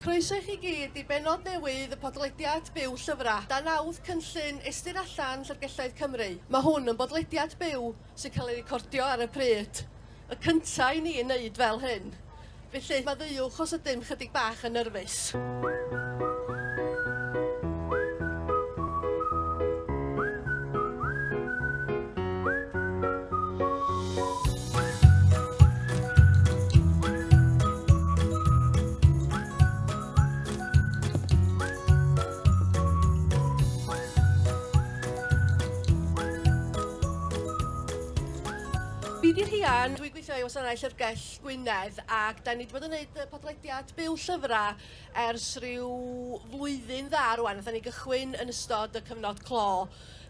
Croeso i chi gyd i bennod newydd y podlediad byw Llyfrau, dan nawdd cynllun Ystyr Allan Llyfrgelloedd Cymru. Mae hwn yn bodlediad byw sy'n cael ei recordio ar y pryd, y cyntaf i ni yn wneud fel hyn. Felly, maddeuwch os ydym chydig bach yn nyrfys. Rhian, dwi'n gweithio i Wasanaeth Llyfrgell Gwynedd ac da ni wedi bod yn gwneud y podlediad byw llyfrau ers rhyw flwyddyn dda rwan. Nath ni gychwyn yn ystod y cyfnod clo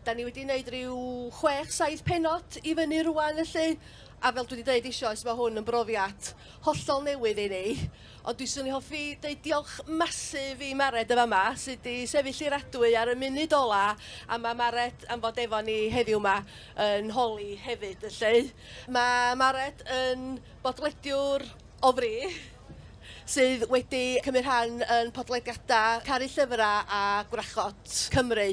Da ni wedi wneud rhyw chwech, saith penod i fyny rwan felly, a fel dwi wedi dweud eisoes, mae hwn yn brofiad hollol newydd i ni. Ond dwi swn i hoffi dweud diolch masif i Mared y fama, sydd wedi sefyll i'r adwy ar y munud ola, a mae Mared am fod efo ni heddiw yma yn holi hefyd felly. Mae Mared yn bodlediwr o fri, sydd wedi cymryd rhan yn podlediadau Caru Llyfrau a Gwrachod Cymru.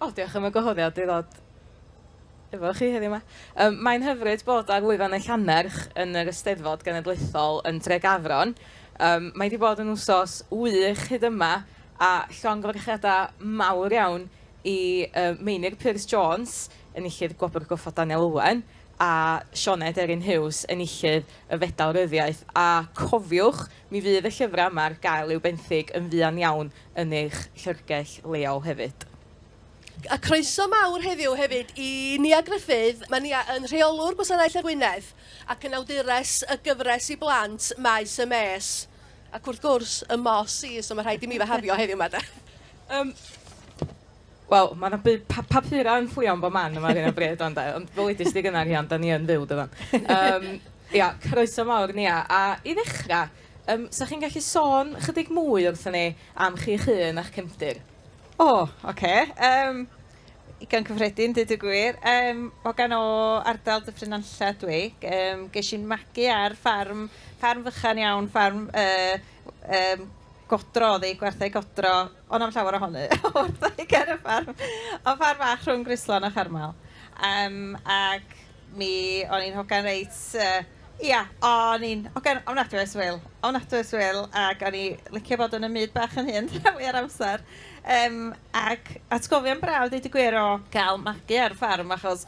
O diolch am y gwahoddiad i ddod efo chi heddiw 'ma. Yym mae'n hyfryd bod ar lwyfan y Llannerch yn yr Eisteddfod Genedlaethol yn Dregafron. Yym mae 'di bod yn wsos wych hyd yma a llongyfarchiadau mawr iawn i yy Meinir Pearse Jones, enillydd Gwobr Goffa Daniel Owen, a Sioned Erin Hughes, enillydd y Fedal Ryddiaith. A cofiwch, Mi fydd y llyfrau yma ar gael i'w benthyg yn fuan iawn yn eich llyfrgell leol hefyd. A croeso mawr heddiw hefyd i Nia Gruffydd, mae Nia yn Rheolwr Gwasanaeth Lle'r Wynedd ac yn awdures y gyfres i blant Maes y Mês, ac wrth gwrs, y Moss Sees, so mae rhaid i mi fy hafio heddiw 'ma de! Yym. Wel, mae 'na bu- pa- papurau yn fflio yn bob man yma ar hyn o bryd, ond, e, ond ddylidist di gynnar iawn, da ni yn fyw, dyfan. Um, ia, croeso mawr, Nia. A i ddechrau, um, sa chi'n gallu sôn chydig mwy wrthyn ni am chi'ch hun a'ch cefndir? O, oh, oce. Okay. Um, Ugain cyffredin, dyd y gwir. Um, o gan o ardal Dyffryn Anlla dwi. Um, ges i'n magu ar ffarm, ffarm fychan iawn, ffarm uh, um, godro, oedd ei gwerthau godro ond am llawer ohony, wrth i ni ger y ffarm. O'dd ffarm fach rhwng Gryslon a Charmel. Yym ac mi o'n i'n hogan reit yy ia o'n i'n hogan ofnadwy o swil, ofnadwy o swil ac o'n i licio bod yn 'y myd bach yn hun rhan fwya'r amser. Yym ac atgofion braf deud y gwir o gael magu ar ffarm achos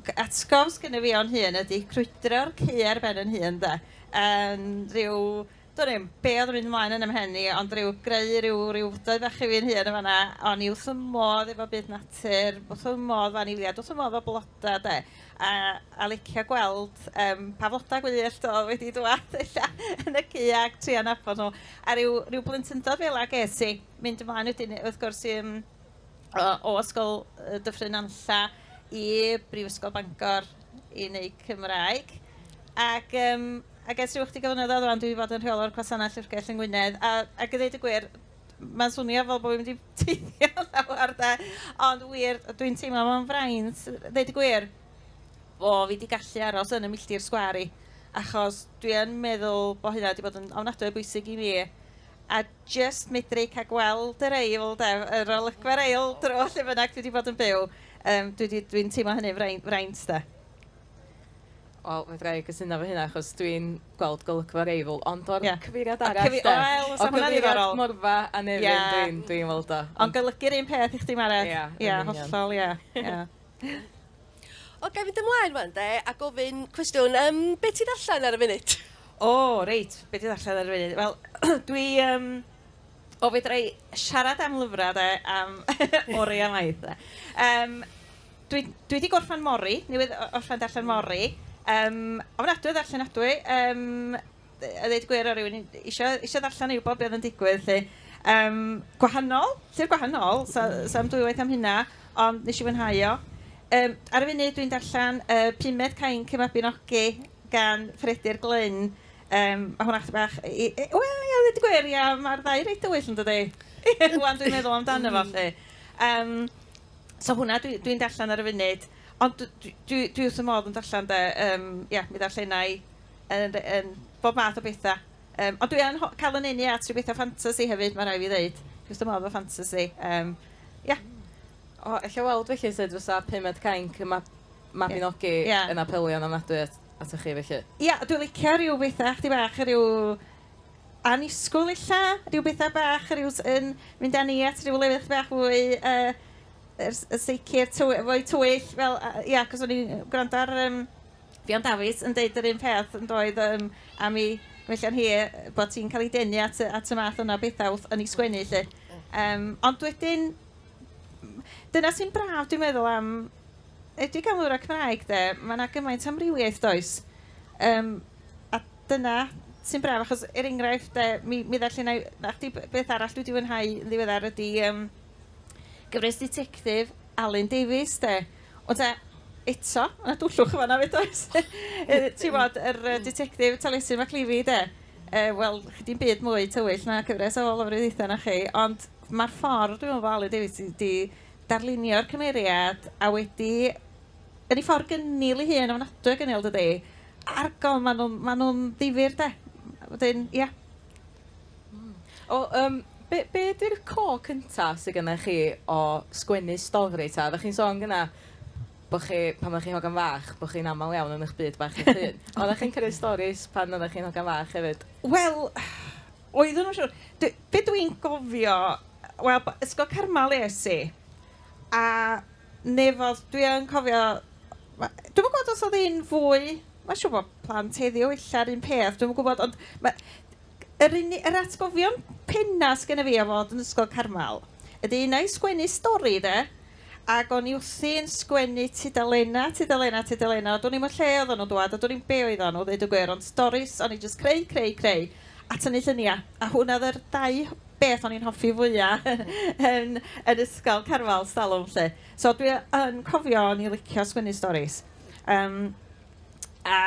g- atgof sgynno fi o'n hun ydi crwydro'r caeau ar ben 'yn hun de yn rhyw Dwn i'm be' odd yn mynd ymlaen yn 'y mhen i ond ryw greu ryw ryw fwdoi fach i fi'n hun yn fan 'na. O'n i wth fy modd efo byd natur, wth fy modd efo anifeiliad, wth fy modd efo bloda 'de. A a licio gweld yym pa floda gwyllt odd wedi dŵad ella yn y cy ag trio nabod nhw. A ryw ryw blentyndod fela ges i. Mynd ymlaen wedyn wrth gwrs i yym o Ysgol Dyffryn Nantlla i Brifysgol Bangor i wneud Cymraeg. Ac, um, ac ers rhyw ychydig o flynyddoedd rwan, dwi wedi bod yn rheolwr gwasanaeth llyfrgell yng Ngwynedd. A, ac i ddweud y gwir, mae'n swnio fel bod fi'n mynd i teithio llawer da. Ond wir, dwi'n teimlo mewn fraint, ddweud y gwir, o, fi wedi gallu aros yn y milltir sgwari. Achos dwi yn meddwl bod hynna wedi bod yn ofnadwy o bwysig i mi. A jyst medru cael gweld yr eil de, yr olygfa'r eil dro lle bynnag dwi wedi bod yn byw. Um, Dwi'n dwi, dwi teimlo hynny fraint, fraint de. Wel, fe ddra i gysyno fy hynna, achos dwi'n gweld golygfa'r eil, ond o'r yeah. cyfeiriad arall, Cyfi... de. Wel, o cyfeiriad morfa a nefyn, yeah. dwi'n dwi weld o. Ond golygu'r un peth i chdi, Mared. Ie, yeah, yeah, hollol, ie. Yeah. yeah. O, ga i fynd ymlaen wan de a gofyn cwestiwn, yym, be ti'n ddarllen ar y funud? O, reit, be dwi'n ddarllen ar y funud? Wel, dwi yym... O, fedra i siarad am lyfrau de am oriau maith de. Yym, dwi dwi 'di gorffen Mori, newydd orffen darllen Mori. Yym, ofnadwy o ddarllenadwy. Yym... a ddeud y gwir o rywun isio isio ddarllen i wybod be oedd yn digwydd 'lly. Yym gwahanol, llyfr gwahanol, so so am dwywaith am hynna, ond nes i fwynhau o. Yym ar y funud dwi'n darllen y pumed Cainc y Mabinogi gan Fredir Glyn. Yym ma' hwnna chydig bach i- i- i- wel ia ddeud y gwir ia ma'r ddau reit dywyll yndydi? Ŵan dwi'n meddwl amdano fo 'lly. Yym so hwnna dwi dwi'n darllen ar y funud, ond dwi dwi dwi wrth fy modd yn darllen de, yym ia mi ddarllena i Yn, yn bob math o betha. Yym, ond dwi yn ho- cael 'y nenu at rhyw betha ffantasi hefyd, ma' raid fi ddeud. Dwi wrth fy modd efo ffantasi. Yym, ia. O, ella weld felly sut fysa Pumed Cainc y Mab- Mabinogi... Ie. ...yn apelio yn ofnadwy at, atoch chi felly. Ia, dwi licio rhyw betha chydig bach yy rhyw annisgwyl ella? Rhyw betha bach, rhyw s- yn mynd â ni at rhyw lefydd chydig bach fwy yy yr s- y sicr, tyw- fwy twyll fel yy ia, 'c'os o'n i'n gwrando ar yym Ffion Dafis yn deud yr un peth yn doedd yym am i Gwellian hi yy bod hi'n cael ei denu at y at y math yna o bethau wrth yn ei sgwennu 'lly. Yym ond wedyn m- dyna sy'n braf dwi'n meddwl am enwedig am lyfrau Cymraeg de, mae 'na gymaint o amrywiaeth does? Yym a dyna sy'n braf achos er enghraifft de mi mi ddarllena' i 'na chdi b- beth arall dwi 'di fwynhau yn ddiweddar ydy yym gyfres ditectif Alun Davies de. Ond te, eto, mae 'na dwllwch yn fan'na 'fyd does? Timod, yr Ditectif Taliesin McLeavy de, wel, chi di'n byd mwy tywyll na cyfres o lofruddiaethau na chi, ond mae'r ffordd dwi'n meddwl fo Alun Davies sydd wedi darlunio'r cymeriad a wedi, yn ei ffordd gynnil ei hun, ofnadwy o gynnil dydi? Argol, maen nhw'n ddifyr de. Wedyn, ia. Hmm. O yym be' be' 'di'r core cynta sy gynnoch chi o sgwennu stori 'ta? Oddach chi'n sôn gynna' bo' chi pan o'ch chi'n hogan fach bo' chi'n amal iawn yn 'ych byd bach eich hun. Oddach chi'n cymryd storis pan oddach chi'n hogan fach hefyd? Wel oeddwn yn siŵr. Dw- be' dwi'n gofio wel b- ysgol Carmal es i a Neu fel dwi yn cofio ma'... Dwi'm yn gwybod os oedd hi'n fwy... Mae'n siŵr bod plant heddiw ella'r un peth, dwi'm yn gwybod ond ma'... yr uni- yr atgofion pennaf sy gynna fi o fod yn Ysgol Carmel ydy un ai sgwennu stori de ac o'n i wrthi'n sgwennu tudalennau, tudalennau, tudalennau a do'n i'm yn lle oedden nhw'n dŵad a do'n i'm be' oeddan nhw ddeud y gwir ond storis o'n i jyst creu, creu, creu a tynnu lluniau a hwnna oedd yr dau beth o'n i'n hoffi fwya' yn yn ysgol, Carwel, 'stalwm 'lly. So dwi yn cofio o'n i'n licio sgwennu storis. Yym a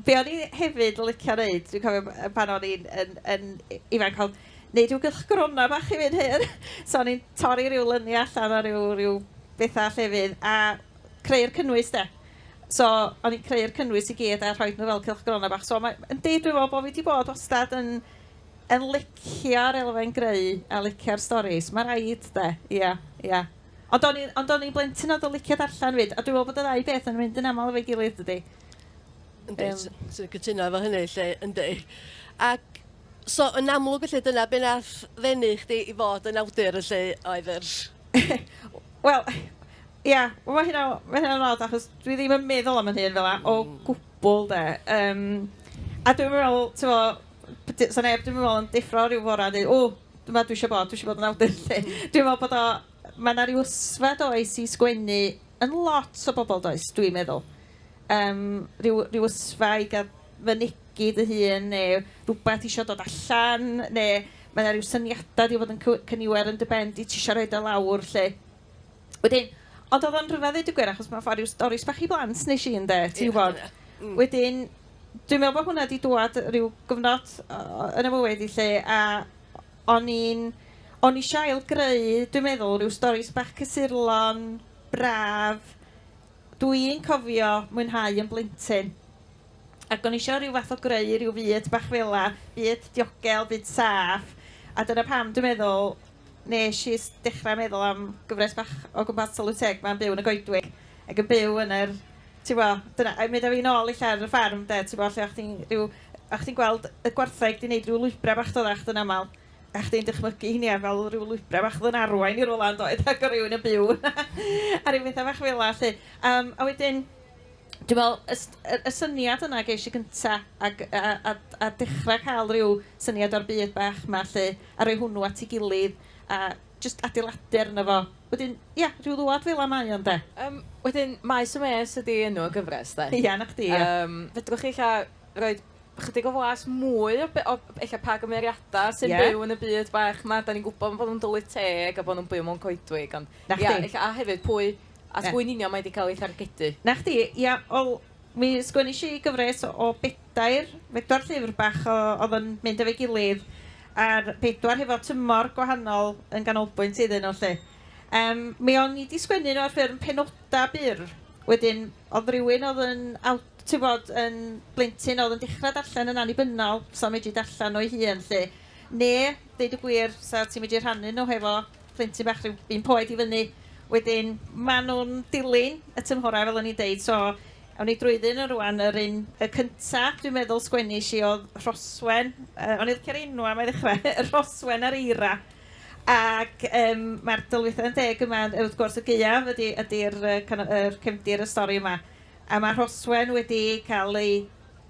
be o'n i hefyd yn licio wneud, dwi'n cofio b- pan o'n i'n yn yn ifanc oedd wneud rhyw gylchgronau bach i fi'n hun. So o'n i'n torri rhyw luniau allan o ryw ryw bethau llefydd a creu'r cynnwys de. So o'n i'n creu'r cynnwys i gyd a rhoid nhw fel cylchgronau bach. So mae yndi dwi'n meddwl bod fi 'di bod wastad yn... yn licio'r elfen greu a licio'r storis. Mae'n rhaid 'de. Ia, ia. Ond o'n i'n ond o'n i'n blentyn oedd yn licio darllen 'fyd, a dwi'n meddwl bod y ddau beth yn mynd yn aml efo'i gilydd dydy? Yndi, Yym. s- swn i'n cytuno efo hynny 'lly, yndi. Ac so yn amlwg felly dyna be' nath ddenu chdi i fod yn awdur felly oedd yr... Wel, ia, wel ma' hynna ma' hynna'n od achos dwi ddim yn meddwl am 'yn hun fel 'a o gwbwl 'de. Yym a dwi'm yn meddwl, t'mo', d- 'sa neb dwi'm yn meddwl yn deffro ryw fore a deud o dyma dwi isio bod, dwi isio bod yn awdur 'lly. Dwi'n meddwl bod o... mae 'na ryw ysfa does i sgwennu yn lot o bobl does, dwi'n meddwl. Yym ryw ryw ysfa i gael fynegi dy hun neu rywbeth isio dod allan neu mae 'na ryw syniadau 'di bod yn cyw- cyniwer yn dy ben di ti isio rhoid o lawr 'lly. Wedyn, ond oedd o'n rhyfedd dweud y gwir, achos mae'n ffordd rhyw stori sbach i blant nes i, ynde, ti'n gwybod. Mm. Wedyn, dwi'n meddwl bod hwnna wedi dwad rhyw gyfnod yn y mywyd i lle, a o'n i'n, o'n i eisiau ailgreu, dwi'n meddwl, rhyw stori sbach cysurlon, braf, dwi'n cofio mwynhau yn blentyn. Ac o'n i eisiau rhyw fath o greu rhyw fyd bach fela, byd diogel, byd saff, a dyna pam dwi'n meddwl Nes i dechrau meddwl am gyfres bach o gwmpas Tylwyth-teg 'ma'n byw yn y goedwig ac yn byw yn yr... Tibod, dyna... a mynd â fi nôl ella ar y ffarm 'de, tibod, lle o'ch chdi'n rhyw... o'ch chdi'n gweld y gwartheg 'di wneud rhyw lwybrau bach doddach chdi'n aml, a chdi'n dychmygu hynny ar fel rhyw lwybrau bach oedd yn arwain i rywle yn doedd ac oedd rhywun yn byw yna a rhyw bethau bach fela 'lly. Yym a wedyn... Dwi'n meddwl, y s- y y syniad yna ges i gynta, ac a a a a dechra cael ryw syniad o'r byd bach 'ma 'lly, a rhoi hwnnw at ei gilydd, a jyst adeiladu arno fo. Wedyn, ia, rhyw ddwad fela mae o, ynde? Yym, wedyn, Maes y Mês ydi enw y gyfres, 'de? Ia, 'na chdi, ia. Yym, fedrwch chi ella roi chydig o flas mwy o be- o ella pa gymeriadau sy'n... Ie. ...byw yn y byd bach 'ma? Dan ni'n gwybod bod nhw'n tylwyth teg a bod nhw'n byw mewn coedwig, ond... 'Na chdi. ...ia, ella, a hefyd, pwy... A ti'n gwybod yn union mae wedi cael ei thargedu. Na chdi, ia, wel, mi sgwennish i gyfres o o bedair, bedwar llyfr bach o- oedd yn mynd efo'i gilydd, a'r bedwar hefo tymor gwahanol yn ganolbwynt iddyn nhw 'lly. Yym, mi o'n i 'di sgwennu nhw ar ffurf penodau byr, wedyn oedd rywun oedd yn aw- ti'n gwybod, yn blentyn oedd yn dechrau darllen yn annibynnol, 'sa fo medru darllen o ei hun 'lly, neu deud y gwir, 'sa ti'n medru rhannu nhw hefo plentyn bach rhyw un poed i fyny. Wedyn ma' nhw'n dilyn y tymhorau fel o'n i'n deud so awn ni drwyddi nhw rŵan. Yr un y cynta dwi'n meddwl sgwennish i oedd Rhoswen. Yy o'n i'n licio'r enw am ei ddechrau Rhoswen a'r eira. Ac yym mae'r Tylwythau yn Deg yma yn wrth gwrs y gaeaf ydy ydy'r yy kind of yr cefndir y stori yma. A ma' Rhoswen wedi cael ei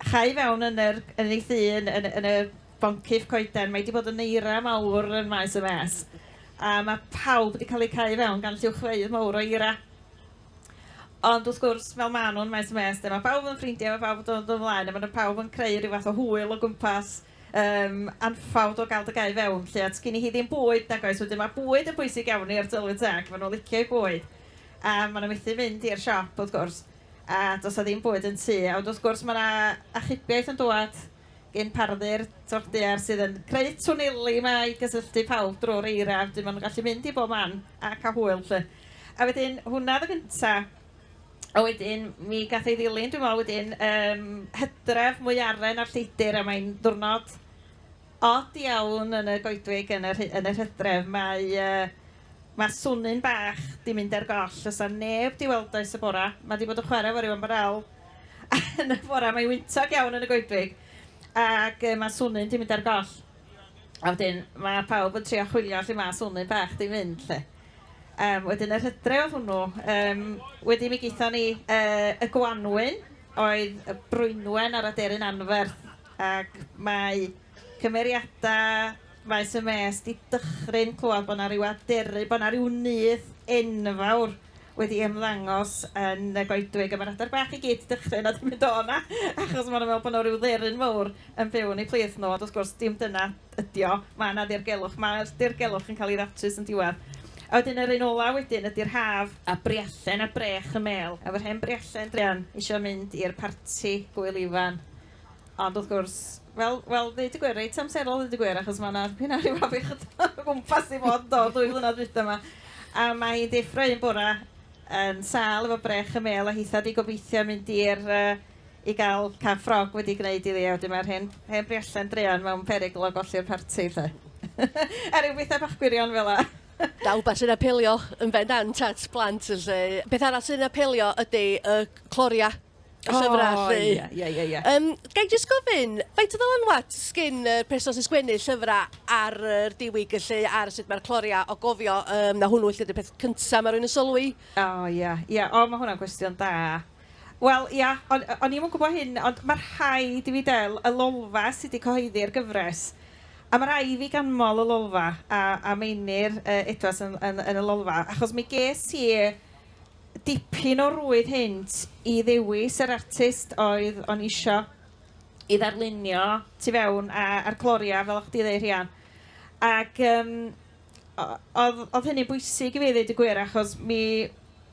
chau fewn yn yr yn ei thŷ yn yn yn y boncyff coeden. Mae hi 'di bod yn eira mawr yn maes y Maes, a mae pawb wedi cael eu cau i fewn gan lluwchfeydd mawr o eira. Ond wrth gwrs, fel maen nhw'n maes y Maes, de, mae pawb yn ffrindiau, mae pawb yn dod yn flaen, a maen nhw pawb yn creu rhyw fath o hwyl o gwmpas, um, anffawd o gael dy gau fewn, lle at gyn i hi ddim bwyd, nag oes, wedyn mae bwyd yn bwysig iawn i'r tylwyth teg, maen nhw'n licio i bwyd, a maen nhw methu mynd i'r siop, wrth gwrs, a does a ddim bwyd yn tu, a wrth gwrs mae yna achubiaeth yn dod, gin Pardy'r Twrch Daear sydd yn creu twneli 'ma i gysylltu pawb drwy'r eira, wedyn maen nhw'n gallu mynd i bob man a cael hwyl 'lly. A wedyn hwnna oedd y gyntaf. A wedyn mi gath ei ddilyn dwi'n meddwl wedyn ym Hydref, Mwyaren a'r Lleidr a mae'n ddiwrnod od iawn yn y goedwig yn yr yn yr Hydref. Mae yy mae swnyn bach 'di mynd ar goll, does 'na neb 'di weld o ers y bore, mae 'di bod yn chwarae efo ryw ymbarél, Yn y bore, mae'n wyntog iawn yn y goedwig ac yy mae Swnyn 'di mynd ar goll. A wedyn mae pawb yn trio chwilio lle mae Swnyn bach 'di mynd 'lly. Yym, wedyn yr hydre' oedd hwnnw. Yym, wedyn mi gaethon ni yy y gwanwyn oedd y Brwynwen a'r aderyn anferth ac mae Cymeriadau maes y mês 'di dychryn clywed bod 'na ryw aderyn, bod 'na ryw nyth enfawr wedi ymddangos yn y goedwig a ma'r adar bach i gyd 'di dychryn a 'di mynd o 'na achos ma' nhw'n meddwl bod 'na ryw dderyn fawr yn byw yn eu plith nhw ond wrth gwrs dim dyna ydi o, ma' 'na ddirgelwch, ma'r dirgelwch yn cael ei ddatrys yn diwedd. A wedyn yr un ola' wedyn ydi'r haf. A Briallen a Brech y Mêl. Efo'r hen Briallen druan isio mynd i'r parti Gŵyl Ifan Ond wrth gwrs, wel, wel, ddeud y gwir, reit amserol ddeud y gwir, achos mae 'na dipyn o ryw afiechyd o gwmpas 'di bod do, dwy flynedd dwytha 'ma. A mae hi'n deffro un bore yn sâl efo brech y mêl a hitha 'di gobeithio mynd i'r yy i gael cath ffrog wedi gwneud iddi, a wedyn mae'r hen hen briallen druan mewn perygl o golli'r parti 'lly. a ryw bethau bach gwirion fel 'na. Da, wbath sy'n apelio yn bendant at blant 'lly. Beth arall sy'n apelio ydy y cloria y llyfrau oh, allu. Ie, ie, ie. ie. Um, Gai jyst gofyn, faint o ddylanwad sgyn y uh, person sy'n sgwennu llyfrau ar yr diwyg lle ar sut mae'r cloria o gofio um, na hwnnw lle dy'r peth cyntaf mae rhywun yn sylwi? O, oh, ie, yeah, ie. Yeah. O, oh, mae hwnna'n gwestiwn da. Wel, ia, o'n, o'n i'n gwybod hyn, ond mae'r rhai di fi del, y lolfa sydd wedi cyhoeddi'r gyfres. A mae rhai fi ganmol y lolfa, a, a meinir uh, Edwards yn, yn, yn, yn y lolfa, achos mi ges i dipyn o rwyd hynt i ddewis yr artist oedd o'n isio i ddarlunio tu fewn a, a'r Gloria, fel o'ch chdi ddeud Rhian. Ac um, oedd, oedd hynny'n bwysig i fi ddeud y gwir, achos mi,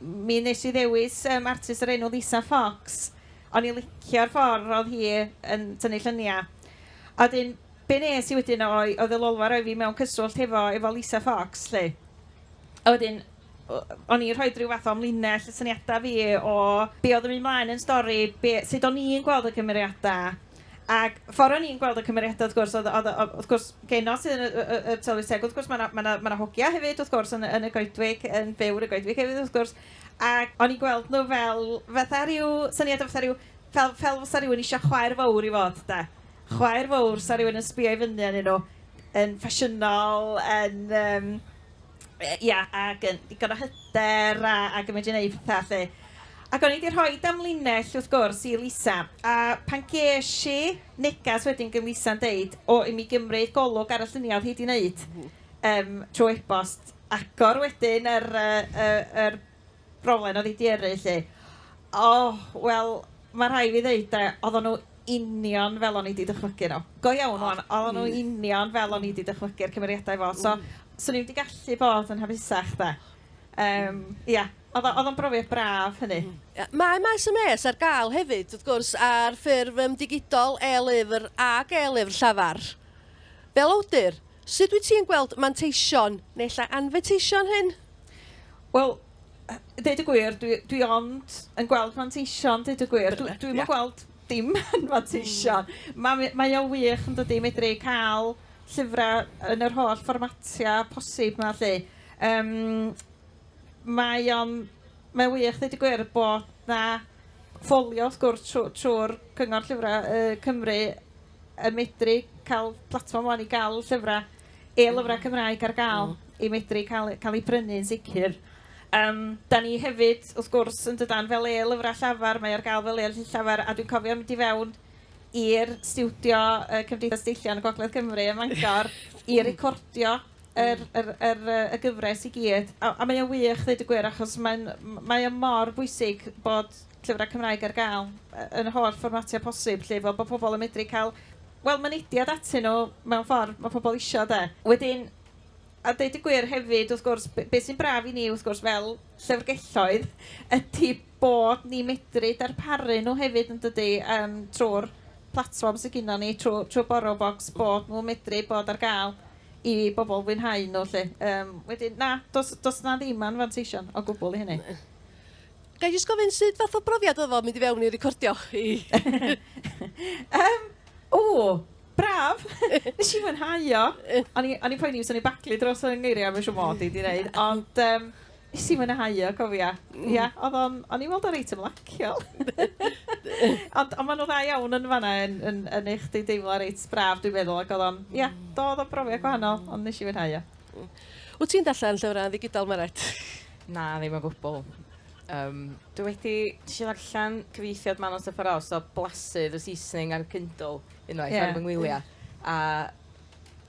mi nes i ddewis um, artist yr enw Lisa Fox, ond i licio'r ffordd oedd hi yn tynnu lluniau. A dyn, be nes i wedyn oedd y lolfa roi fi mewn cyswllt hefo, efo Lisa Fox, lle. A wedyn, o'n i'n rhoid rhyw fath o amlinell y syniadau fi o be oedd yn mynd mlaen yn stori, be... sut o'n i'n gweld y cymeriadau. Ac ffordd o'n i'n gweld y cymeriadau wrth gwrs oedd oedd yy wrth gwrs genod sydd yn y y y y Tylwyth Teg wrth gwrs mae 'na mae 'na mae 'na hogia hefyd wrth gwrs yn y yn y goedwig yn byw yn y goedwig hefyd wrth gwrs ac o'n i'n gweld nhw fel fatha rhyw syniad o fatha rhyw fel fel fysa rhywun isio chwaer fawr i fod de. Chwaer fawr 'sa rhywun yn sbio i fyny arnyn nhw yn ffasiynol yn yym... ia, ac yn ddigon o hyder a, ac yn mynd i wneud pethau 'lly. Ac o'n i 'di rhoi amlinell, wrth gwrs, i Lisa, a pan ges i neges wedyn gan Lisa'n deud, o, i mi gymryd golwg ar y lluniau oedd hi 'di wneud, yym, trwy e-bost, agor wedyn yr, yy, yr, Broblem oedd i di yrru 'lly. O, wel, mae rhai fi ddeud de, oedden nhw union fel o'n i di dychmygu nhw. Go iawn wan, oedden nhw union fel o'n i di dychmygu'r cymeriadau fo, so 'swn i'm di gallu bod yn hapusach de. Yym, ia, oedd o, oedd o'n brofiad braf hynny. Mae Maes y Maes ar gael hefyd, wrth gwrs, ar ffurf yym digidol, e-lyfr ac e-lyfr llafar. Fel awdur, sut wyt ti'n gweld manteision, neu ella anfeteision hyn? Wel, deud y gwir, dwi, dwi ond yn gweld manteision, deud y gwir. Dwi, dwi'm yn gweld dim yn manteision. Mm. Mae, mae o wych yn dydy, medru cael llyfrau yn yr holl fformatiau posib yma, lle. Um, mae o'n, mae wych, deud y gwir, bod na ffolio, wrth gwrs, trwy'r trw Cyngor Llyfrau uh, Cymru yn medru cael platfform o'n i gael llyfrau e-lyfrau Cymraeg ar gael i medru cael, cael ei brynu yn sicr. Um, da ni hefyd, wrth gwrs, yn dydan, fel e-lyfrau llafar, mae ar gael fel e llafar, a dwi'n cofio mynd i fewn i'r studio uh, Cymdeithas Deillion y Gogledd Cymru ym Mangor i recordio yr, yr, yr, y gyfres i gyd. A, a mae o'n wych, ddweud y gwir, achos mae'n, mae o mor bwysig bod llyfrau Cymraeg ar gael yn holl fformatiau posib, lle, fel bod pobl yn medru cael wel, mynediad atyn nhw mewn ffordd mae pobl isio de. Wedyn, a deud y gwir hefyd wrth gwrs, b- be sy'n braf i ni wrth gwrs fel llyfrgelloedd ydy bod ni'n medru darparu nhw hefyd yn dydy, yym, trwy'r platfform sydd gynnon ni, trwy trwy Borrowbox, bod nhw'n medru bod ar gael i bobl fwynhau nhw 'lly. Yym, wedyn, na, does does 'na ddim anfanteision o gwbl i hynny. Ga i jyst gofyn sut fath o brofiad oedd o mynd i fewn i recordio chi? um, o, braf! Nes i fwynhau o. O'n i'n poeni os o'n i'n baglu dros y ngeiriau, mae'n siŵr mod i di wneud. Ond um, Nes i mwynhau o, cofia. Mm. Ia, oedd o'n, o'n i'n weld o'n reit ymlaciol. Ond ond maen nhw dda iawn yn fanna yn yn yn eich di deimlo reit braf dwi'n meddwl ac oedd o'n, ia, mm. do oedd o'n brofiad gwahanol, ond nes i fwynhau o. Mm. Wyt ti'n darllen llyfrau yn ddigidol, Meret? Na, ddim o gwbl. Um, dwi wedi eisiau ddarllen cyfeithiad Manon Sepharos o Blasydd y Saesneg ar Kindle unwaith yeah. ar fy ngwyliau. A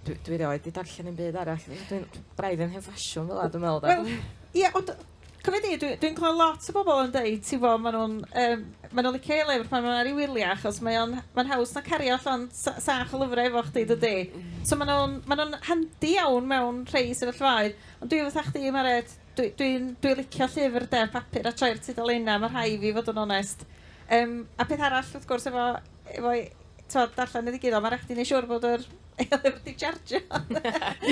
dwi, dwi rioed wedi darllen yn byd arall. Dwi'n braidd yn hen ffasiwn fel a dwi'n meddwl. Wel, ie, yeah, ond Cofio di, dwi'n dwi clywed lot o bobl yn dweud, ti fo, maen nhw'n um, ma nhw licio ei lyfr pan maen nhw'n ar ei wyliau, achos mae'n ma haws na cario allan sach o lyfrau efo chdi, dydy. Mm. So maen nhw'n ma nhw handi iawn mewn rhai sefyllfaoedd. Ond dwi fatha chdi Meret, dwi dwi'n dwi licio llyfr de, papur a troi'r tudalennau, ma' rhai' i fi fod yn onest. Yym a peth arall wrth gwrs efo efo i- t'mod darllen y ddigidol, ma' raid chdi wneud siŵr bod yr e-lyfr 'di charjio.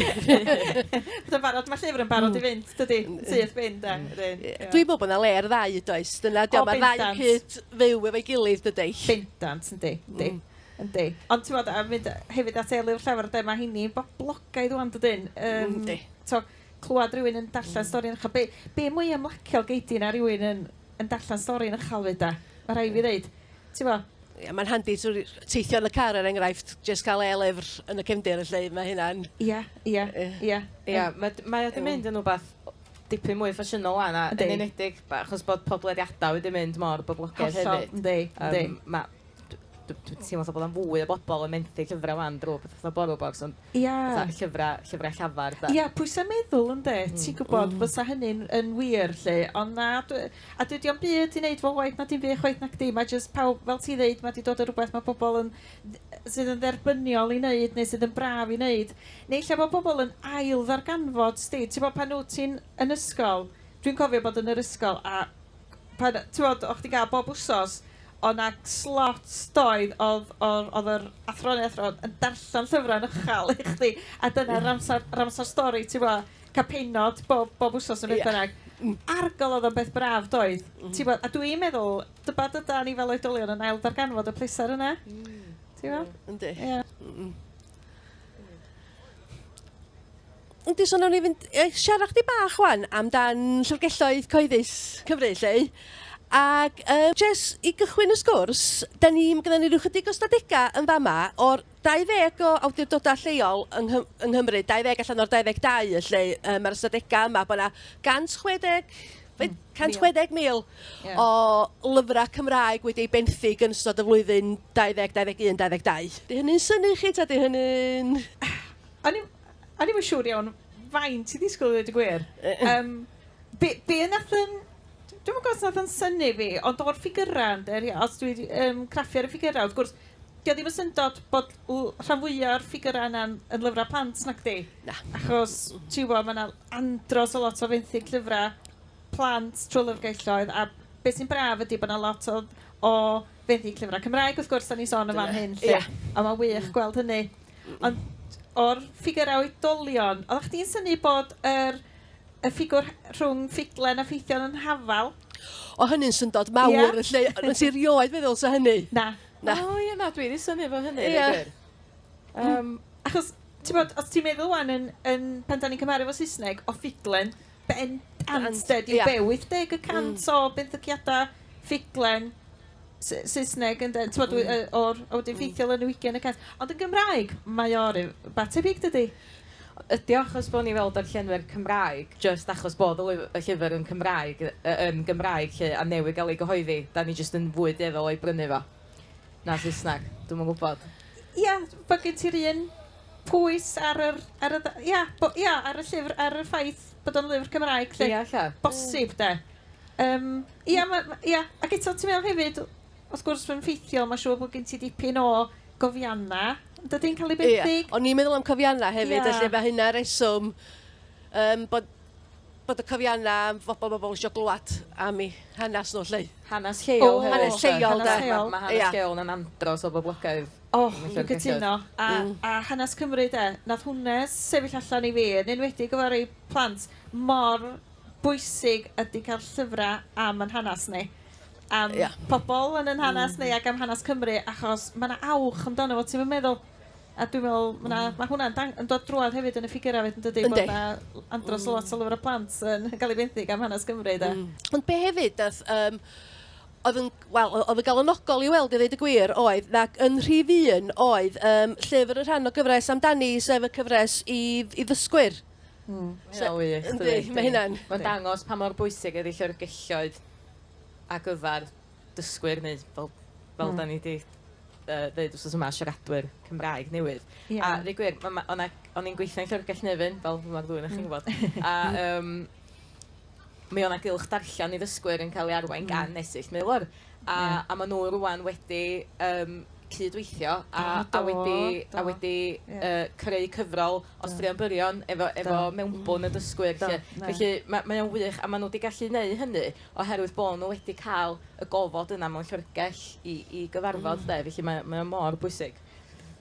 Bod o'n barod, ma' llyfr yn barod i fynd dydi? Yn syth bin de? Wedyn ie. Dwi'n meddwl bod 'na le i'r ddau does? Dyna 'di o... O bendant. ...ma'r ddau yn cyd-fyw efo'i gilydd dydi? Bendant yndi yndi. Yndi. Ond t'mod a mynd yy hefyd at Eilydd y Llafur 'de ma' 'heini'n boblogaidd ŵan dydyn? Yym. Yndi. T'o' clwad rywun yn darllen stori yn ucha- be' be' mwy ymlaciol gei di na rywun yn yn darllen stori yn uchal 'fyd 'de? Ma' rhai' fi ddeud. T'mo'? Ie ma'n handi t'o' ry- teithio yn y car er enghraifft jyst ca'l e-lyfr yn y cefndir felly ma' hynna'n... Ia ia. Ie. Ia. Ia ma' d- mae o 'di mynd yn wbath dipyn mwy ffasiynol ŵan a... Yndi. ...yn enedig b- achos bod podlediada wedi mynd mor boblogaidd hefyd. Hollol yndi yndi. Yym ma' dw- dw- dwi'n teimlo fatha bod o'n fwy o bobl yn menthu llyfrau 'wan drwy pethau fatha BorrowBox, ond... Ia. ...fatha llyfrau, llyfrau llafar, de. Ia, pwysau meddwl, ynde? Mm. Ti'n gwybod... Mm. ...fysa hynny'n yn wir, 'lly. Ond na, dw- a dydy o'm byd i wneud efo waith na dim byd chwaith nacdi. Mae jyst pawb, fel ti'n ddeud, mae 'di dod â rhywbeth mae pobl yn dd- sydd yn dderbyniol i wneud neu sydd yn braf i wneud. Neu lle mae pobl yn ailddarganfod, 'sdi. Ti'n gwybod, pan wyt ti'n yn ysgol, dwi'n cofio bod yn yr ysgol a pan, ti'n gwybod, o'ch chdi'n cael bob wsos, Oedd 'na slots doedd oedd oedd oedd yr athro neu athrawd yn darllen llyfrau yn uchel i chdi a dyna yr amser yr amser stori ti'n gwbod? Cael pennod bob bob wsos neu beth bynnag. Argol oedd o'n beth braf doedd? Ti'n gwbod? A dwi'n meddwl tybed ydan ni fel oedolion yn ail ddarganfod y pleser yna? Ti'n gwbod? Yndi. Ia. Yndi, so wnawn ni fynd i siarad chdi bach wan amdan llyfrgelloedd cyhoeddus Cymru, lle. Ac uh, Jess, i gychwyn y sgwrs, da ni, mae gennym ni rhyw chydig o stadegau yn fama o'r 20 o awdurdodau lleol yng, Nghym yng Nghymru, 20 allan o'r 22, lle uh, mae'r stadegau yma, bod yna 160 160,000 yeah. o lyfrau Cymraeg wedi ei benthyg yn ystod y flwyddyn 20, 21, 22. Di hynny'n syni chi ta di hynny'n... O'n i'm yn siŵr iawn faint i ddisgwyl i ddweud y gwir. Yym, be, be nath yn... Dwi'm yn gwybod os nath yn syni fi, ond o'r ffigyrau, ynde, rhi- os dwi 'di yym, craffu ar y ffigyrau, wrth gwrs, 'di o ddim yn syndod bod l- rhan fwya o'r ffigyrau yna yn yn lyfrau plant, nacdi? Na. Achos, ti'n gwybod, ma' 'na andros o lot o fenthyg llyfrau plant trwy lyfrgelloedd, a be sy'n braf ydi bod 'na lot o o fenthyg llyfrau Cymraeg, wrth gwrs, 'dan ni'n sôn yn fan hyn 'lly. Ia. A ma'n wych gweld hynny. Ond o'r ffigyrau oedolion, oeddach chdi'n synnu bod yr, y ffigwr he- rhwng ffuglen a ffeithion yn hafal? O, hynny'n syndod mawr Ie. yn lle... Ond nes i rioed feddwl sa hynny. Na. Na. O ie, na, dwi 'di synnu efo hynny, Ie. deu gwir. Yym... Achos, t'mod, os ti'n meddwl 'wan yn yn pan 'dan ni'n cymharu efo Saesneg, o ffuglen, Bendant 'de, dyw be 80 y cant o benthyciadau ffuglen Sa- Saesneg yn de, timod, dwi yy o'r... a wedyn ffeithiol yn 20 y cant. Ond yn Gymraeg, mae o ryw ba tebyg dydi? Ydy o achos bod ni fel darllenwyr Cymraeg, jyst achos bod y lyf- y llyfr yn Cymraeg, yy yn Gymraeg 'lly, a newydd gael ei gyhoeddi, 'da ni jyst yn fwy dueddol o'i brynu fo na Saesneg? Dwi'm yn gwybod. Ia, bod gen ti'r un... pwys ar yr, ar y dda- ia, bo- ia, ar y llyfr, ar y ffaith bod o'n lyfr Cymraeg 'lly... Ia, ella. ...bosib 'de. Yym, ia, ma', ma', ia, ac eto ti'n meddwl hefyd, wrth gwrs, mae'n ffeithiol, mae'n siŵr bod gen ti dipyn o gofiannau, yn dydi, yn cael eu benthyg? Ia, o'n i'n meddwl am cofiannau hefyd... Ia. ...felly mae hynna'n reswm yym bod, bod y cofiannau am fobl ma' bobl isio glywed am eu hanes nhw 'lly. Hanes lleol hefyd... O! ...hanes lleol 'de. Hanes lleol. Ma' hanes lleol 'na'n andros o boblogaidd. O, dwi'n cytuno. A, a hanes Cymru 'de? Nath hwnne sefyll allan i fi, yn enwedig efo rei plant, mor bwysig ydi cael llyfrau am yn hanes ni. Am... Ia. ...pobl yn yn hanes ni ac am hanes Cymru, achos ma' 'na awch amdano fo, ti'm yn meddwl? A dwi'n meddwl ma' 'na... Ma' hwnna'n dang- yn dod drwodd hefyd yn y ffigyrau 'fyd yn dydi? Yndi. Bod 'na andros o lot o lyfrau plant yn cael eu benthyg am hanes Cymru 'de? Mm. Ond be' hefyd nath yym oedd yn, wel, oedd yn galonogol i weld i ddweud y gwir oedd, ac yn rhif un oedd um, llyfr y rhan o gyfres amdani, sef y cyfres i, i ddysgwyr. Mm. So, Ia, wych. Yndi, mae hynna'n... Mae'n dangos pa mor bwysig ydy llyfrgelloedd a gyfer dysgwyr neu fel, fel mm. da ni wedi uh, ddeud wrth yma, siaradwyr Cymraeg newydd. Yeah. A ddweud gwir, o'n i'n gweithio'n llyfrgell nefyn, fel mae'r ddwy'n eich chi'n gwybod. A um, mi o' 'na gylch darllen i ddysgwyr yn cael ei arwain... Mm. ...gan Esyll Maelor a... Ie. ...a ma' nw rŵan wedi yym cyd-weithio a... Do do. ...a wedi a wedi... Ie. ...yy creu cyfrol o straeon byrion efo efo... Do. ...efo mewnbwn y dysgwyr 'lly. Do, na. Felly ma' mae o'n wych a ma' nw 'di gallu neu' hynny oherwydd bo' nw wedi ca'l y gofod yna mewn llyfrgell i i gyfarfod 'de felly mae o mae o mor bwysig.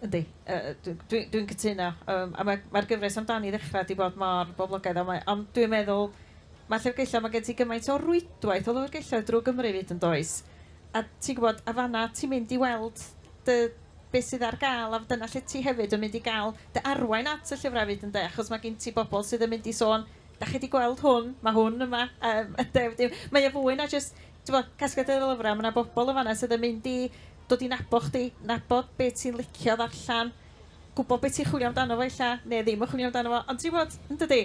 Yndi. Yy dw- dwi dwi'n cytuno. Yym a mae mae'r gyfres amdani i ddechrau 'di bod mor boblogaidd a mae... ond dwi'n meddwl mae'r llyfrgelloedd, mae gen ti gymaint o rwydwaith o lyfrgelloedd drwy Gymru 'fyd yn does? A ti'n gwybod, a fan'na ti'n mynd i weld dy... be sydd ar gael a dyna lle ti hefyd yn mynd i gael dy arwain at y llyfrau 'fyd ynde? Achos mae gen ti bobl sydd yn mynd i sôn "dach chi 'di gweld hwn? Mae hwn yma" yym ynde? Wedyn mae o fwy na jyst t'mo', casgliad dy lyfra', ma' 'na bobol yn fan 'na sydd yn mynd i dod i nabo' chdi, nabod be' ti'n licio ddarllan, gwbo be' ti'n chwilio amdano fo ella, ne' ddim yn chwilio amdano fo, ond ti wbod, yndydi?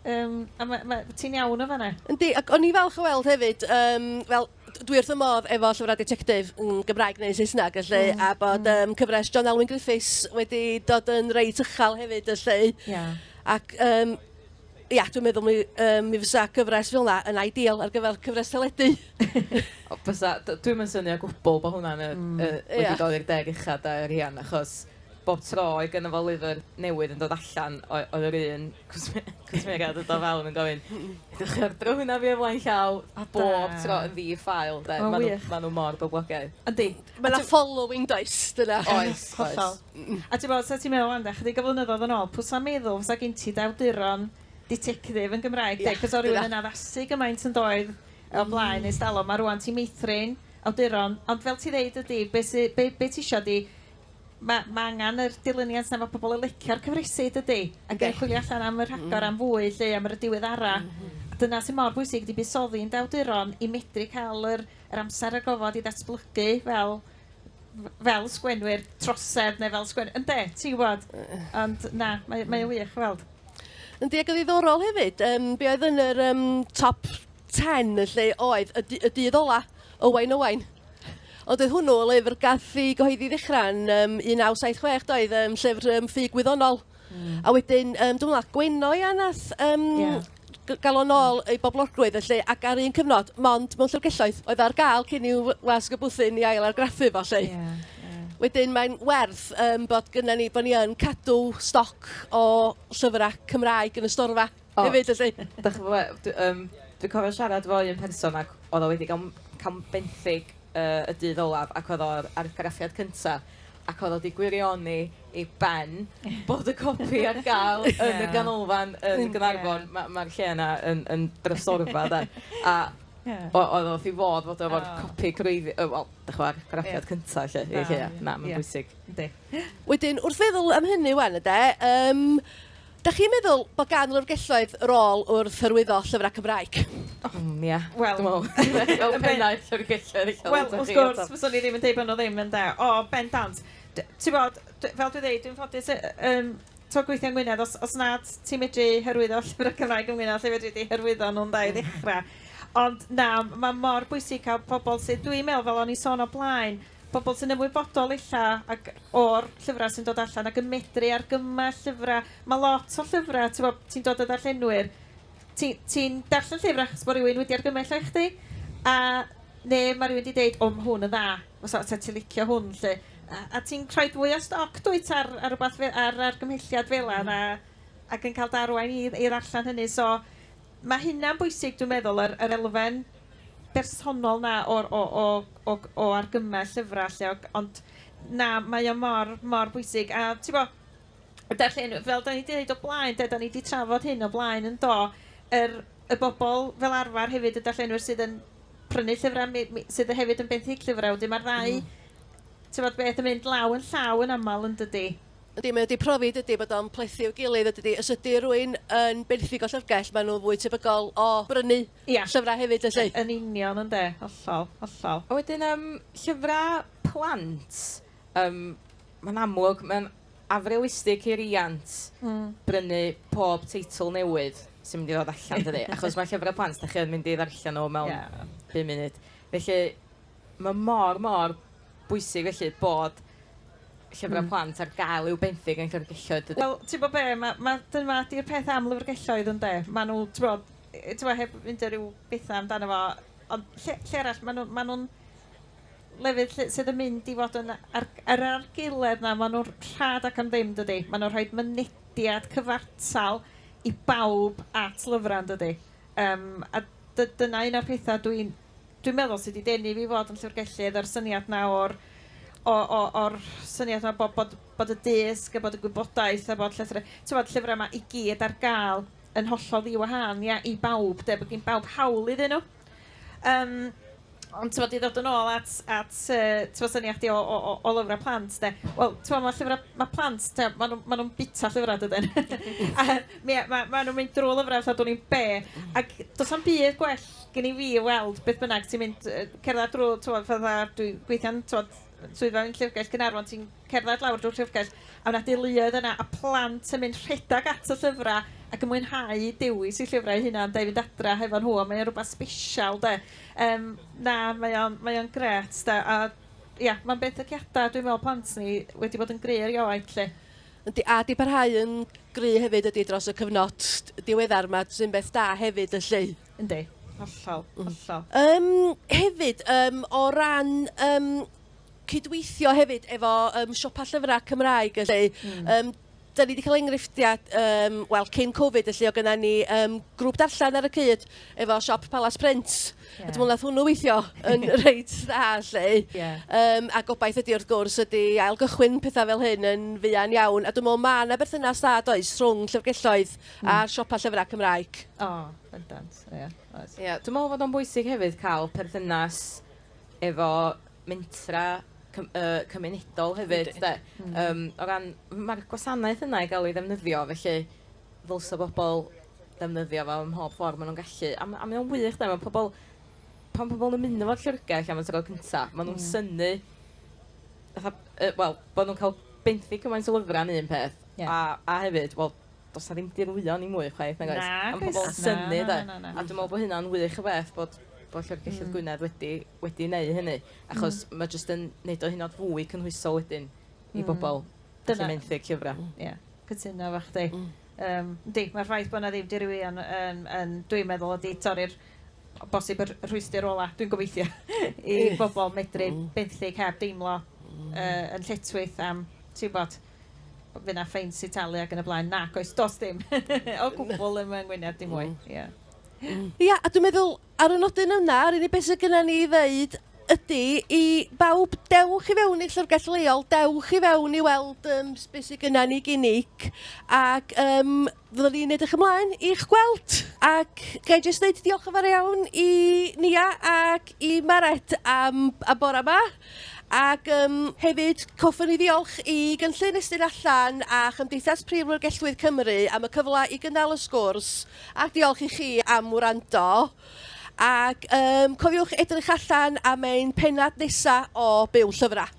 Yym, a ma' ma'... Ti'n iawn yn fan 'na. Yndi, ac o'n i'n falch o weld hefyd, yym, wel, d- dwi wrth fy modd efo llyfrau ditectif yn Gymraeg neu yn Saesneg y 'lly, a bod yym cyfres John Elwyn Griffiths wedi dod yn reit uchel hefyd y 'lly... Ie. ...ac yym Ia, dwi'n meddwl mi, um, mi fysa gyfres fel yna yn ideal ar gyfer cyfres teledu. fysa, dwi'n mynd synio gwbl bod hwnna'n mm. uh, wedi yeah. dod i'r deg ucha da yr hian, achos bob tro i gynnu fo lyfr newydd yn dod allan oedd yr un cwsmeriad yn dod fewn yn gofyn ydych chi'n ordro hwnna fi eflaen llaw a bob tro yn ddi ffael de. Maen nhw, ma nhw mor boblogaidd. Yndi. Mae yna following does dyna. Oes, oes. A ti'n gwybod, os ti'n meddwl amdano ychydig o flynyddoedd yn ôl, pwy 'sa'n meddwl fysa gen ti dy awduron ditectif yn Gymraeg di? Achos oedd rhywun yn addasu gymaint yn doedd o blaen ers talwm, a rŵan ti'n meithrin awduron. Ond fel ti'n ddeud ydy, be sy... be be ti isio ydy... ma' ma' angen yr dilyniant 'na, ma' pobl yn licio'r cyfresi dydy? Ac yn chwilio allan am y rhagor am fwy 'lly, am yr diweddaraf. A dyna sydd mor bwysig ydy buddsoddi yn dy awduron i medru cael yr yr amser a'r gofod i ddatblygu fel... fel sgwenwyr trosedd neu fel sgwen... Ynde, ti'n gwybod. Ond na, mae, mae o'n wych weld. Yndi, ac yn ddiddorol hefyd, um, be oedd yn yr um, top 10 y lle oedd y, y dydd ola, Owain Owain. Ond oedd hwnnw o lyfr gath i gyhoeddi ddechrau'n um, 1976, doedd, um, llyfr um, ffug wyddonol. Hmm. A wedyn, um, dwi'n meddwl, a Gwenno ia nath um, yeah galon ôl ei boblogrwydd felly, ac ar un cyfnod, mond mewn llyfrgelloedd oedd ar gael cyn i'w wasg y bwthyn i ail argraffu fo lle. Yeah, yeah. Wedyn mae'n werth um, bod gyda ni, bod ni yn cadw stoc o llyfrau Cymraeg yn y storfa. O, hefyd felly. Dach chi'n gwybod be, dwi yym dwi'n cofio siarad efo un person ac oedd o wedi cael m- cael m- benthyg yy y dydd olaf ac oedd o'r argraffiad cynta ac oedd o wedi gwirioni ei ben bod y copi ar gael yn y ganolfan yn Gaernarfon. Ma' ma'r lle yna yn yn drysorfa de. A o- oedd o wrth ei fodd fod o efo'r copi gwreiddi- yy wel, dach chibod, argraffiad cynta 'lly i Lleuad. Na, mae'n bwysig. Yndi. Wedyn, wrth feddwl am hynny 'wan ynde, yym Dach chi'n meddwl bod gan lyfrgelloedd rôl wrth hyrwyddo llyfrau Cymraeg? Mm, ie. Wel... Dwi'n meddwl. Fel pennaeth llyfrgelloedd ella... Wel, wrth gwrs, fyswn i ddim yn deud bod nhw ddim, ynde. O, bendant. D- tibod, d- fel dwi'n ddeud, dwi'n ffodus yy yym tibod, gweithio yng Ngwynedd. Os os nad ti'n medru hyrwyddo llyfrau Cymraeg yng Ngwynedd, lle fedri di hyrwyddo nhw, ynde, i ddechrau? Ond na, mae mor bwysig cael pobl sydd... Dwi'n meddwl, fel o'n i'n sôn o'r blaen, pobl sy'n ymwybodol ella ac o'r llyfrau sy'n dod allan ac yn medru argymell llyfrau. Mae lot o llyfrau, ti'n gwybod, ti'n dod o ddarllenwyr, ti'n ti darllen llyfr achos bod rhywun wedi argymell o i chdi, a neu mae rhywun wedi dweud, o mae hwn yn dda, os oes ti'n licio hwn 'lly. A, a ti'n rhoi fwy o stoc dwyt ar, ar, rhywbeth fe, ar argymhelliad fel yna mm. a, ac yn cael darwain i, i ddarllen hynny. So mae hynna'n bwysig dwi'n meddwl, yr, yr elfen bersonol 'na o'r o o o g- o argymell llyfra' 'lly o- ond na mae o mor mor bwysig a t'bo' y darllen- fel 'dan ni 'di ddeud o blaen 'de 'dan ni 'di trafod hyn o blaen yn do? Yr y bobol fel arfar hefyd y darllenwyr sydd yn prynu llyfra' mi mi sydd y hefyd yn benthyg llyfra' wedyn ma'r ddau Hmm. t'mod beth yn mynd law yn llaw yn amal yndydi? Yndi mae o 'di profi dydi bod o'n plethu i'w gilydd a dydi os ydi rywun yn benthyg o llyfrgell ma' nhw fwy tebygol o brynu Ia, llyfrau hefyd felly? Yn union ynde, hollol, hollol. A wedyn yym llyfrau plant, yym mae'n amlwg mae'n afrealistig i riant brynu pob teitl newydd sy'n mynd i ddod allan dydi? Achos mae llyfrau plant dach chi yn mynd i ddarllen nhw mewn pum munud. Felly mae mor, mor bwysig felly bod llyfrau plant ar gael i'w benthyg yn llyfrgelloedd dydi? Wel, ti'n gwybod be, ma' ma' dyna 'di'r peth am lyfrgelloedd ynde, maen nhw, ti'n gwybod, yy t'mo' heb mynd â ryw betha amdano fo, ond lle lle arall ma' nw ma' nw'n lefydd lle sydd yn mynd i fod yn ar yr argaeledd 'na ma' nw'n rhad ac am ddim dydi? Ma' nw'n rhoid mynediad cyfartal i bawb at lyfra yndydi? Yym a dy- dyna un o'r petha dwi'n dwi'n meddwl sy 'di denu fi i fod yn llyfrgellydd yr syniad 'na o'r o o o'r syniad 'na bo' bod bod y dysg a bod y gwybodaeth a bod llythre- t'mod llyfra 'ma i gyd ar ga'l yn hollol ddi-wahân ia i bawb 'de, bod gin bawb hawl iddyn nhw. Yym, ond t'mod i ddod yn ôl at at yy t'mod syniad chdi o o o o lyfra' plant 'de, wel t'mod ma' llyfra' ma' plant t'mod ma' nhw ma' nhw'n bita llyfra' dydyn? A mi- ma' ma' nhw'n mynd drwy lyfra' fatha dwn i'm be', ac does na'm byd gwell gen i fi i weld beth bynnag sy'n mynd yy cerddad drwy t'mod fatha dwi gweithio'n t'mod swyddfa yn Llyfrgell Gaernarfon ti'n cerdded lawr drwy'r llyfrgell, a oedd 'na deuluoedd yna, a plant yn mynd rhedeg at y llyfrau ac yn mwynhau dewis eu llyfrau eu hunain de, i fynd adra hefo nhw, a mae o'n rhywbeth sbesial de. Yym, na, mae o'n, mae o'n grêt de, a ia, mae'n benthyciadau dwi'n meddwl plant ni wedi bod yn gry erioed 'lly. Yndi, a 'di parhau yn gry hefyd ydi dros y cyfnod diweddar 'ma, sy'n beth da hefyd ylly. Yndi, hollol, hollol. Yym, hefyd, yym, o ran yym cydweithio hefyd efo um, siopa llyfrau Cymraeg lle mm. um, da ni wedi cael enghreifftiau, um, wel, cyn Covid, lle o gyda ni um, grŵp darllen ar y cyd efo siop Palace Print. Yeah. A dwi'n meddwl nath hwnnw weithio yn reit dda, lle. Yeah. Um, a gobaith ydy, wrth gwrs, ydy ail gychwyn pethau fel hyn yn fuan iawn. A dwi'n meddwl mae yna berthynas dda does rhwng llyfrgelloedd mm. a'r siopa llyfrau Cymraeg. O, oh, bendant, ie. Yeah. Yeah. Dwi'n meddwl fod o'n bwysig hefyd cael perthynas efo mentra cym- yy cymunedol hefyd 'de? Hmm. Yym o ran... Ma'r gwasanaeth yna i ga'l ei ddefnyddio felly ddylsa bobol ddefnyddio fo ym mhob ffor ma' nw'n gallu a ma' a mae o'n wych 'de ma' pobol pan pobol yn ymuno efo'r llyfrgell am y tro cynta ma' nw'n... Hmm. ...synnu fatha yy wel bo' nw'n ca'l benthyg cymaint o lyfra yn un peth... Ie. ...a a hefyd wel do's 'na ddim dirwyon i mwy chwaith nag oes? Nag oes. A ma' pobol yn synnu 'de? Na na na na. A dwi me'wl bo' hynna'n wych o beth bod bod Llyfrgell... Hmm. ...Llyfrgell Gwynedd wedi wedi neu' hynny achos... Hmm. ...ma' jyst yn neud o hynod fwy cynhwysol wedyn i bobol... Hmm. Dyna. ...sy'n menthyg llyfra'. Hmm. Ie. Cytuno efo chdi. Hmm. Yym yndi ma'r ffaith bo' 'na ddim dirwyon yn yn dwi'n meddwl ydi torri'r o bosib y rh- y rhwystr ola dwi'n gobeithio i bobol medru... Hmm. ...benthyg heb deimlo... Hmm. ...yy yn lletchwith am ti wbod Fydd 'na ffeins i talu ac yn y blaen. Nac oes, does dim o gwbl yn fy ngwyneb dim mwy. Ie. Ia, a dwi'n meddwl, ar y nodyn yna, yr unig beth sydd gennym ni i ddeud ydy i bawb, dewch i fewn i llyfrgell leol, dewch i fewn i weld um, beth sydd gennym ni ginig, ac um, Fyddwn ni'n edrych ymlaen i'ch gweld, ac ga i jyst ddeud diolch yn fawr iawn i Nia ac i Maret am y bore 'ma, ac yym hefyd hoffwn i ddiolch i Gynllun Estyn Allan a Chymdeithas Prif Lyfrgelloedd Cymru am y cyfle i gynnal y sgwrs, a diolch i chi am wrando. Ac um, cofiwch edrych allan am ein penad nesa o Byw Llyfrau.